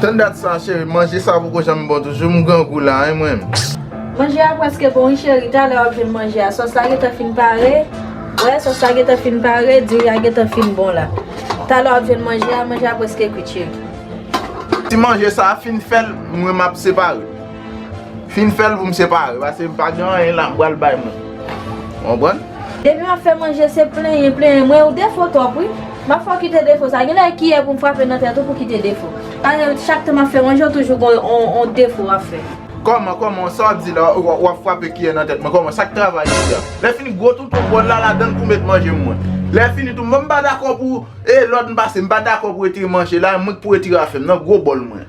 Tann dat sa cheri, manje sa poko janm bon toujou, m grangou la hein mwen. Manje a preske bon wi cheri, talè wap jwenn manje a, sòs la gentan fin pare, wè sòs la gentan fin pare, diri a gentan fin bon la. Talè wap jwenn manje a, manje a preske kwit cheri. Ti manje sa fin fèt, mwen map separe. Fin fèl pou m separe pase m pa gen anyen la m pral bay moun. Konprann? Depi map fè manje se plenyen plenyen mwen ou defo twòp wi Map fè w kite defo sa genlè e kiyè pou m frape nan tèt ou pou w kite defo Paske chak tan map fè manje ou toujou gon yon defo wap fè. Kòman kòman sa wap di la wap frape kiyè nan tèt mwen kòman sak travay isi a Lè fini gwo toutou bòl la ladann pou met manje m mwen Lè fini tou mwen m pa dakò pou e lòd m pase m pa dakò pou w retire manje la e mwen k pou w retire afè m nan gwo bòl mwen.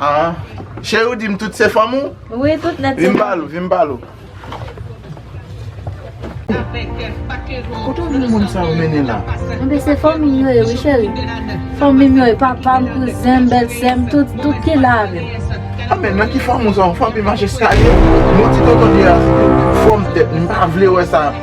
Aa Cheri ou dim tout se fanm ou? Wi tout nèt se fanm. Vin palo, vin palo. Kote ou jwenn moun sa ou mennen la? Anben se fanmim yo ye wi cheri. Fanmim yo ye, papam, kouzenm, bèlsèm, tout, tout ki la avèm. Anben nan ki fanm ou sa ou fanm e majeskalye? Mwen ti tonton Dieu a se te fòm tèt li m pa vle wè sa.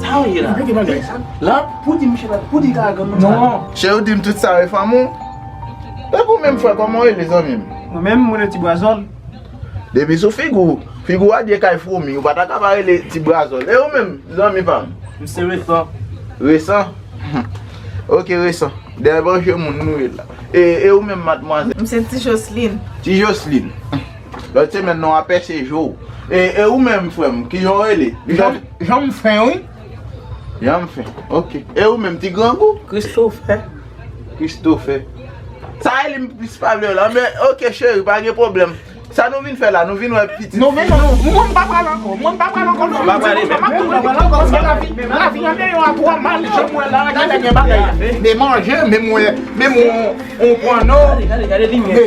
Sa yo ye la. Repete bagay sa. La. Pou di misye pa. Pou di ka agan moun sa. Non. Chè ou dim tout sa yo e fanm ou? E pou menm fwa koman ou rele zanmi m? Mwen menm mwen rele ti brazòl. Depi sou figi w. Figi w a diye kay fwomi. Ou pa ta ka pa rele ti brazòl. E ou menm zanmi pa m? M se resan. Resan? Ok resan. De evanjye moun nou ye la. E ou menm madmwazèl? M se ti joslin. Ti joslin. Lot semen nan wap pèse je w. E ou menm frem ki jan w rele? Jan m fen wi. Jan m fen ok. E ou menm ti grangou? Christophe. Christophe. Sa eli m plis pa vle wè la men ok cheri pa gen pwoblem. Sa nou vin fè la nou vin wè pitit fi nou? Mwen m pa pral anko. Mwen m pa pral anko non. Lavi an deyò a tro mal jan m wè la genlè gen bagay. Men manje men m wè men m wè on pwanno. Gade gade limyè.